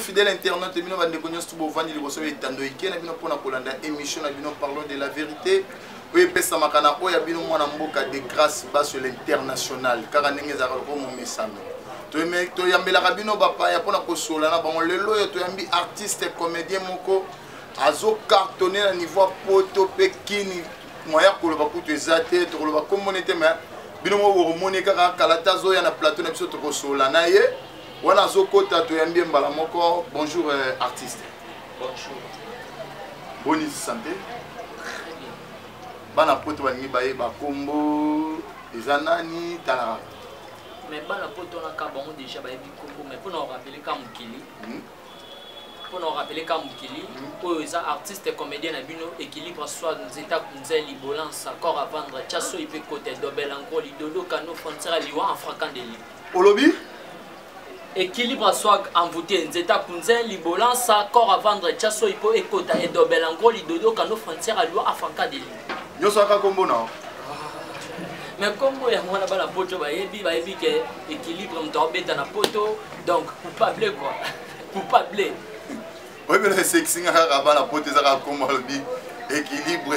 fidèle internaute bino bandeko nyonso bovandi liboso ya etando ike na bino mpona kolanda émission na bino parlons de la vérité oyo epesamaka na oyo ya bino mwana mboka de grâce baso l'international kaka ndenge ezalaka lokola momesano toyambelaka bino bapaya mpona kosola na bango lelo oyo toyambi artiste comédien moko azocartonne na niveau ya poto mpe kini moya koloba kutu eza te tokoloba kombone te mai bino moko bokomoni kaka kalata azoya na plateau na biso tokosola na ye wana azokota toyambi ye mbala moko bonjour euh, artiste bonjour boni sante bana poto balingi bayeba kombo eza nani talaka mais bana poto naka bango déjà bayebi kombo mais mpona orapele ka mokili hmm? mpona orapele ka mokili hmm? oyo eza artiste comédien na bino équilibre soit nzeta kunze libolansa corps à vendre chasoyi mpe kote dobela nkoli dodo kano frontière liwa en fracandeli olobi équilibre à soi envoûté nzeta kunzin libolansa corps à vendre tya soyi mpo ekota edobela ngo lidodo kano frontière alua afankadeli nyonso aka nkombo nao mais nkombo yango wana bana poto bayebi bayebi ke équilibre moto aobeta na poto donc coupable quoi coupable oyebela esekisingaka kaka bana poto ezaka nkombo alobi équilibre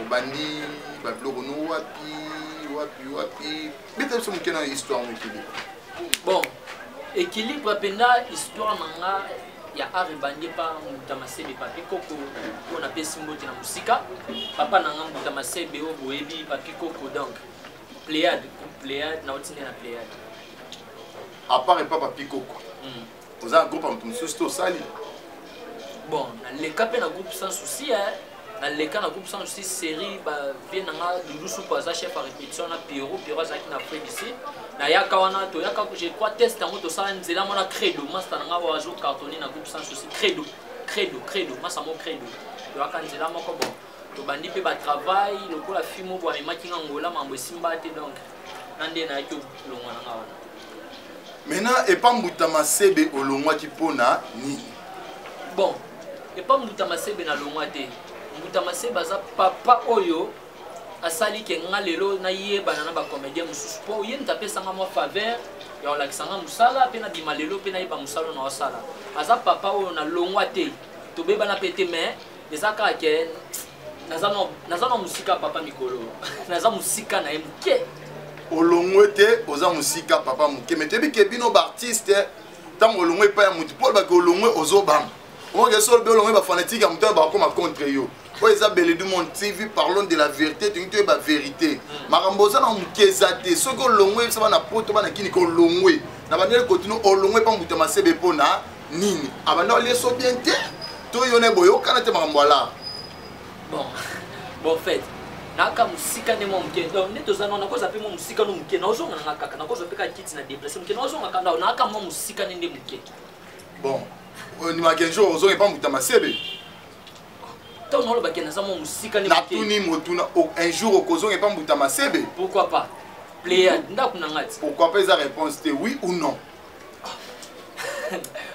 obandi babiloko no wapi wapi wapi beta biso moke na histoire no ekilibre bon ekilibre mpenza histoire na nga ya art ebandi epa mbuta masebe papi koko oyo napesi mbote na mosika papa na nga mbuta masebe oyo boyebi papi koko donc pléade pléade nauti nde na pléade apart epa papi koko hmm. oza na groupe ya moto mosusu te osali bon naleka mpe na groupe sans souci naleka na groupe sans souci série bavie na nga dulusupu aza chef ya répétition na pierro pierro azalaki na afrique du sud nayaka wana toyaka je crois test yango tosala nzela mwana credo masta na nga oyo azo cartonne na groupe sans souci credo credo credo masta mo credo toyaka nzela moko bon tobandi mpe batravail lokola fimo bwamemaki nga ngola mambo esimba te donc nga nde nayaki olongwa na nga wana maintenant epa mbuta masebe olongwaki mpo na nini bon epa mbuta masebe nalongwa te mbuta masebe aza papa oyo asali ke nga lelo nayebana na bacomédien mosusu mpo ye moto apesanga mwa faveur ya kolakisa nga mosala mpe nabima lelo mpe nayeba mosala na osala aza papa oyo nalongwa te tobebana mpe te mais eza kaka ke naza na mosika papa mikolo naza mosika na ye moke olongwe te oza mosika papa moke me toyebi ke bino baartiste ntango olongwe epai ya motu mpo olobaki olongwe ozobanga omoke so olobi olongwe bafanatike ya motu oyo bakokoma contre yo oyo eza bele du monde tv parlons de la vérité tolingi toyeba vérité hmm. makambo oza na moke eza te soki olongwe yebisa bana poto bana kini kolongwe na bandeli kotino olongwe mpa moto ya masebe mpo na nini abanda olie so bien te to yo naye boyokana te makambo ala bon bon fait naka mosika nde mwa moke donc nde toza nao nakozwa mpe mwa mosika no moke naozonga nanga kaka nakozwa mpe kaka kiti na deplace moke naozonga kaka ndao naka mwa mosika nde nde moke bon ondimaka un jour ozonga epa moto ya masebe ntango nalobaki naza mwa mosika natuni motuna un jour okozonga epa mbuta masebe pourquoi pas pléade ndako na ngai ti pourquoi pas eza réponse te oui ou non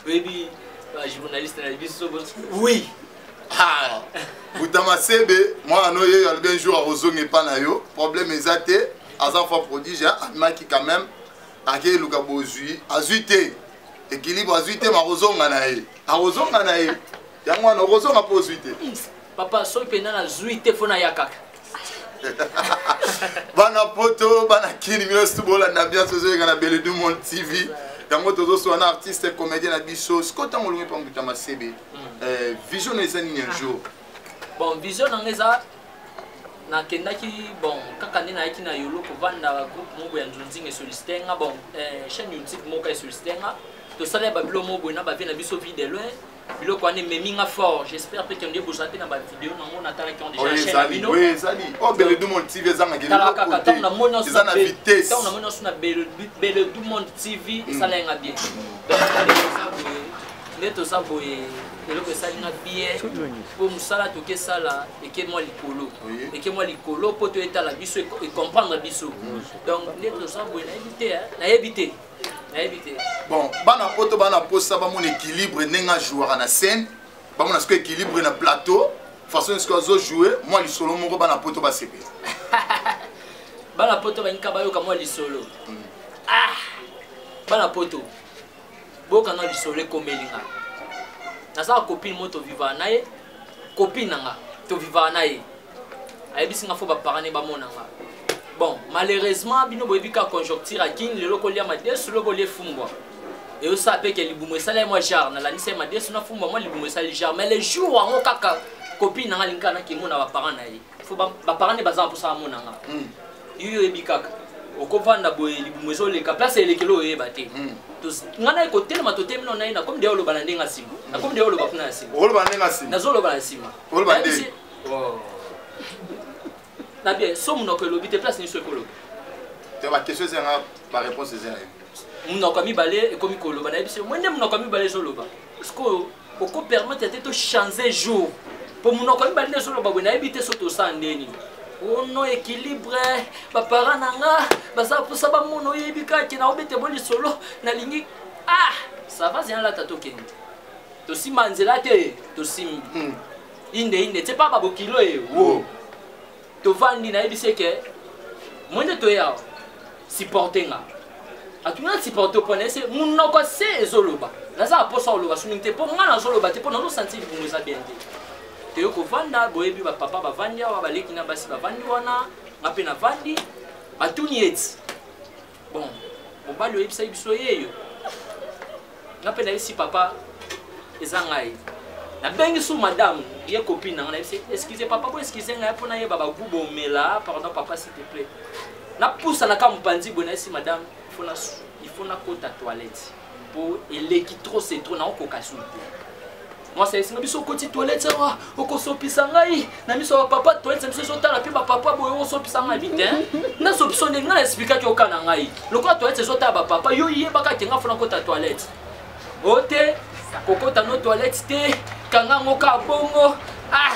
oyebi bajournaliste na biso oui ah. butama sebe mwana no yeyo alobi un jour akozonga epa na yo problème eza te aza fois prodige amimaki quand même akei luka bozwi azwi te ekilibre azwi te makozonga na ye akozonga na ye yango wana okozonga mpo ozwi te papa soki mpenza nazwi te mpo naya kaka bana poto bana kini nyonso bolanda bianso ezoyeka na bele du monde tv yango tozoswa na artiste comédien na biso sikoyo ntango olongi mpa mbuta masebe hmm. eh, vision na eza nini un jour bon vision nanga eza nakendaki bon kaka nde nayaki na yolo kovanda groupe moko ya nzonzinga esolisite nga bon eh, chaîne youtube moko esolisite nga tosala ya babilo moko boye na bavie na biso vie de loin biloko wana ememi nga fort j'espère mpe kende bozala mpe na bavideo nango natalaki on dejaezali o oh, beledumond tv ezangakelaa kaka ntango namoni eza na vitesse ntango namoni osu na beledumond tv mm. esala yanga bien nde toza boye eloko esali nga bien mpo mosala toki esala eke mwa likolo eke mwa likolo mpo toyetala biso ekomprendre biso mm. donc nde toza boye nayebi te nayebi te bon bana poto bana mposa bamona équilibre ndenge ajouaka na scène bamona siko équilibre na plateau façon siko azojoue mwa lisolo moko bana poto basepela bana poto balinga bayoka mwa lisolo hmm. ah! bana poto boyoka na lisolo ekomeli nga naza copine moko tovivaka na ye copine na nga tovivaka na ye ayebisi nga fo baparent ne bamona nga bon malheureusement bino boyebi kaka conjoncture ya kin lelo kolia madesu loko olie fumbwa eyosala mpe ke libumu esala ye mwa jare nalandisa ye madesu na fumbwa mwa libumu esali jare mais le jour yango kaka kopine nanga alingi kaka nakemona baparent na ye fo baparent ne baza na mposa bamona nga hmm. yoyo oyebi kaka okovanda boye libumu ezoleka place elekeli oyeba te hmm. nga naye kotelema totemino naye nakomi deya oloba na ndenge asima nakomi deya oloba kuna na sima nazoloba na sima Oh. na bien so monoko elobi te place nyonso ekoloba te baquestion eza yanga baréponse eza yayo monoko ya mibale ekomi koloba nayebi se mwende monoko ya mibale ezoloba sikoyo oko permettre te tochange jour mpo monoko ya mibale nde ezoloba boye nayebi te so tosala ndeni ono équilibre baparent na nga baza mposa bamona oyebi kake na obete bo lisolo nalingi ah sava zeyalata tokende tosimba nzela te tosimbi hmm. inde inde tse pa babokilo ye wo tovandi nayebisi eke mwende toye awa supporte nga atuni na supporte mpo nayese monoko se ezoloba naza na mposa oloba somingi te mpo ngai nazoloba te mpo nazosanti libongo eza bien te toye kovanda boyebi bapapa bavandi awa baleki na basi bavandi wana nga mpe navandi batuni eti bon mobali oyebisaki biso yeyo nga mpe nayebisi papa eza ngai nabengi su madame ye copine nanga nayebisi excuse papa bo excuse ngai mpo nayeba bagu bomela pardon papa s'il te plaît napusa na ka mopanzi boye nayebisi madame il faut nakota toilette po eleki trop c'est trop naokoka sulu te mwasi ayesinga biso okoti toilette awa okosopisa ngai na miso ya papa toilette biso ezotala mpe bapapa boye okosopisa ngai bite nasopisa ndenge ngai naesplikaki oka na ngai lokola toilette ezotala bapapa yo yebaka kenga fona kota toilette o te kokota no toilette te kanga yango ka bongo ah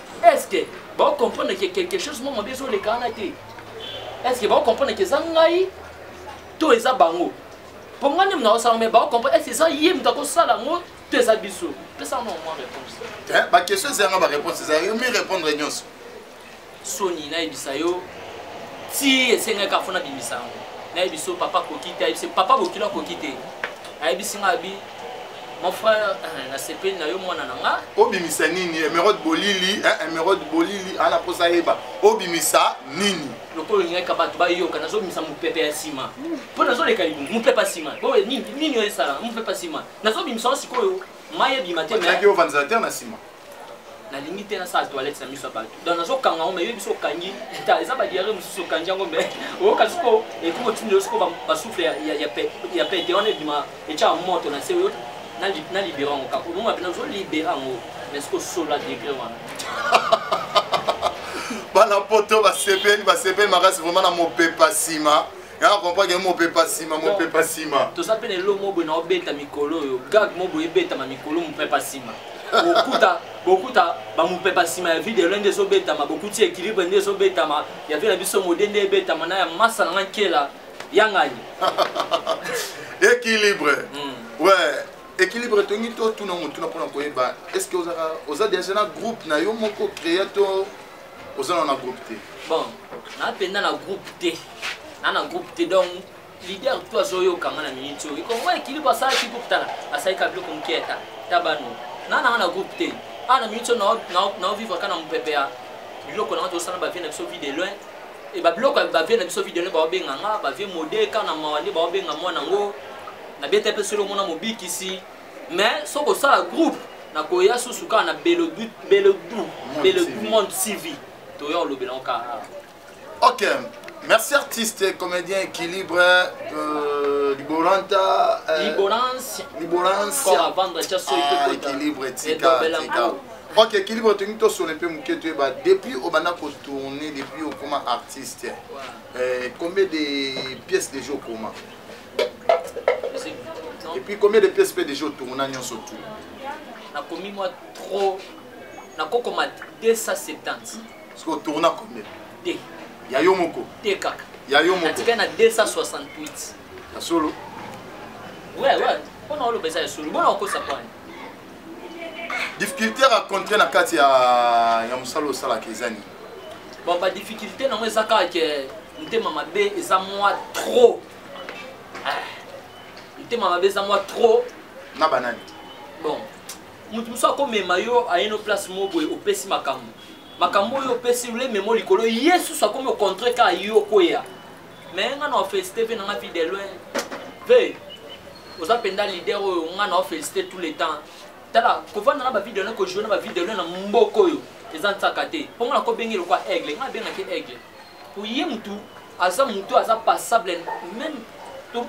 est ce que bao comprendre que quelque chose mwa mabe ezoleka wana te est ce que bao comprendre que eza ngai to eza bango mpo ngai nde moto akosala me bao comprendre est ce que eza ye moto akosala yango to eza biso pesa yango mwa réponse baquestion eza yanga baréponse eza yo mi répondre nyonso soni nayebisa yo ti esengaki afo nabimisa yango nayebi so papa akoki te ayebisi papa bokilo akoki te ayebisi ngai abi mon frère eh, nasepeli na yo mwana na nga obimisa nini emerode eh, bolili eh, emerode bolili ana mposa yeba obimisa nini lokola olingaka bato bayoka nazobimisa mopepe ya nsima mpo nazoleka libu mopepe ya nsima nini oyo esala mopepe ya nsima nazobimisa yango sikoyo mai ebima te mais... ovandisateurs na nsima nalingi te nasala toilette na miso ya bato donc nazokanga yango mayebi biso okangi ta eza badiare mosusu okangi yango mai oyoka soko ekoki kotinda yo soko basouffle ya pete wana ebima etyaka moto na se oyo na libera yango kaka omoma mpe nazolibera yango mais soko sola degre wana bana poto basepeli basepeli makasi vraimen na mopepa nsima yanga comprendre yango mopepa nsima mopepa nsima toza mpe na elo mobwe na obeta mikolo oyo gag mobwe ebetama mikolo mopepa nsima bokuta bokuta bamopepa nsima ya video nde ezobetama bokuti équilibre nde ezobetama ya vie na biso mode nde ebetama na ya masa na nga nkela yangani équilibre mm. ouais équilibre tongi totuna motuna mpona koyeba est ce que ozaka oza déjà na groupe na yo moko créa to oza na na groupe te bon na mpenza na groupe te na na groupe te donc leader to azoyoka nga na minute oyo kongo ekilibre asalaki groupe tala asalaki ka biloko moke ata ta bano na nanga na groupe te awa na minute oyo naovivre ka na mopepe ya biloko nanga tosala bavie na biso vie de loin e babiloko ya bavie na biso vie de loin baobenga nga bavie mode ka na mawa nde baobenga mwana yango nabeta mpe solo mona mobikisi mais soki osala groupe nakoya susu kaka na belodu belodu belodu monde cv toya olobela ngo kaka ok merci artiste comédien équilibre euh, liboranta euh, liborance liborance corps à vendre tia soyi ah, équilibre tika tika ok équilibre tolingi tosolo mpe moke toyeba depuis obanda kotourne depuis okoma artiste ouais. euh, combien de pièces déjà okoma Et puis combien de pièces peut déjà au tour n'a nyonso tout Na commis moi trop na koko ma 270. Parce que au tour n'a combien Te. Ya yo moko. Te kaka. Ya yo moko. Atika na 268. Ya solo. Ouais ouais. On a le besoin de solo. Bon on cause ça quoi difficulté rencontré na kati ya, ya mosala osalaka eza nini bon badifficulté nango eza kaka ke ntema mabe eza mwa trop ah, motema mabe eza mwa trop na banani bon moto mosusu akomema yo ayeno place moko boye opesi makambo makambo oyo opesi olememo likolo ye susu akomi ocontre kaka yo okweya mais nga na ofelicite mpe nanga vie de loin mpe oza mpenza lider oyo nga na ofelicite tout le temps tala kovanda na bavie de loin kojoue na bavie de loin na mboka oyo eza nsaka te mpo nga nakobenge lokwa aigle nga nabengaki aigle oye mutu aza mutu aza passable meme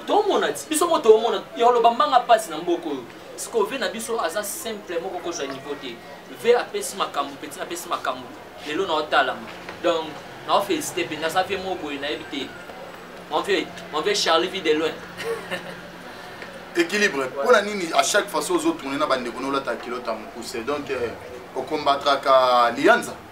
tomona ti biso moko tomona ya oloba mbanga mpasi na mboka oyo siko ve na biso aza simple moko kozwa niveau te ve apesi makambo peti napesi makambo lelo na otalama donc na ofélicité mpe naza vie moko boye nayebi te mon vieux mon vieux charlie vie de loin équilibre mpo na nini à chaque fois so ozotourne na bandeko nolataka kilota mokuse donc euh, okombatraka liyanza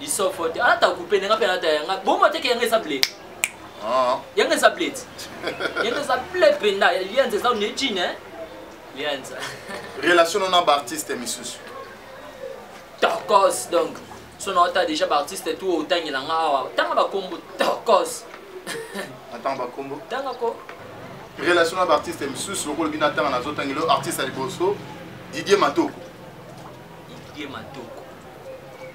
lisofo te alata kupe nanga mpe alata yanga boma teke yanga eza ble ah. yanga eza ble ti yanga eza ble mpenza lianza eza ne jine lianza relation na baartiste misusu tokos donc so na ota déjà baartiste tu otangela nga awa tanga bakombo tokos atanga bakombo tanga ko relation na baartiste misusu lokola bino atanga nazotangela artiste ya liboso didier matoko Didier Matoko.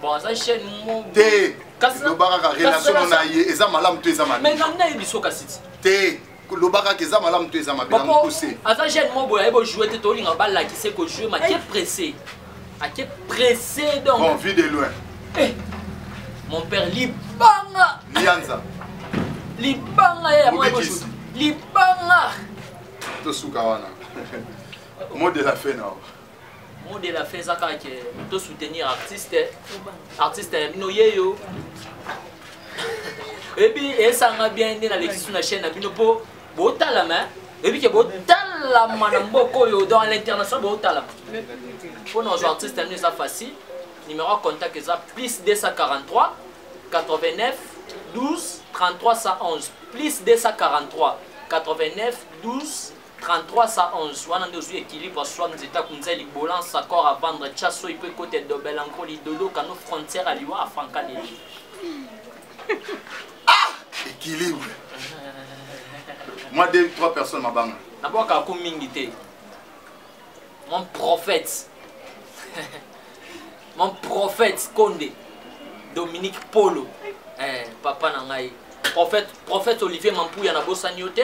Bon, aza chaîne mo. Te. Loba kaka relation na ye eza malamu to eza mabe. Mais ngai na yebiso kasi. Te. loba kaka eza malamu to eza mabe na mokuse. Aza jeune mo boya ebo jouer te tolinga ba lakise ko jouer ma ke pressé. A ke pressé donc. Bon, vue de loin. Eh. Mon père libanga. Lianza. Libanga ya mo ebo jouer. Libanga. Tosuka wana. Mot de la fin na. mot de la fin eza kaka ke to soutenir artiste artiste ya bino ye yo ebi esanga bien nde nalekisi na chaîne na bino mpo botalama ebi ke botalama na mboka oyo dans l'international botalama mpo na ozwa artiste ya bino eza facile numéro ya contact eza plus 243 89 12 33 111 plus 243 89 12 33 sa 11 wana nde ozwi équilibre swam nzeta kunza libolan sacor à vendre tya soyi mpo ekota edobela nko lidodo kano frontière ya liwa afranka leli ah équilibre moi deux trois personnes mabanga nabwaka ako mingi te mon prophète mon prophète konde dominique polo eh, papa na ngai prophète, prophète olivier mampuya nabosani yo te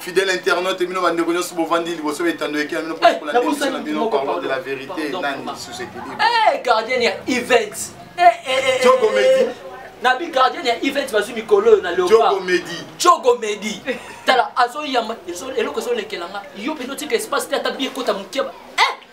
fidèle internaute bino bandeko nyonso bovandi liboso etando eke na bino mpo kola ndebiso na bino parole de la vérité nani sous équilibre eh, gardien ya event eh, eh, jogo medi na bi gardien ya event bazwi mikolo oyo na leopardmedi jogo medi tala azoyamba eloko ezolekela nga yo mpenza otika espace te ata bi ekota mokeba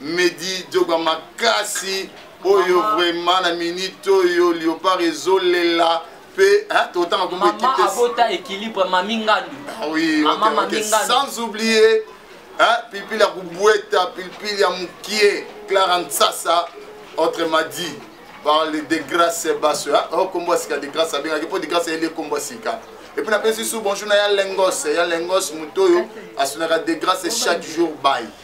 medi dioga makasi oyo vraiment na minute oyo liopard ezolela mpe totanga kombo ekipe abota équilibre mami ngandu ah oui mama mami ngandu sans oublier hein pilipili ya kubweta pilipili ya mukie clara nsasa autrement dit par le degrace baso hein oh kombo sika degrace abengaki mpo degrace ayeli kombo sika et puis napesi su bonjour na ya lengos ya lengos moto oyo asunaka degrace chaque jour baye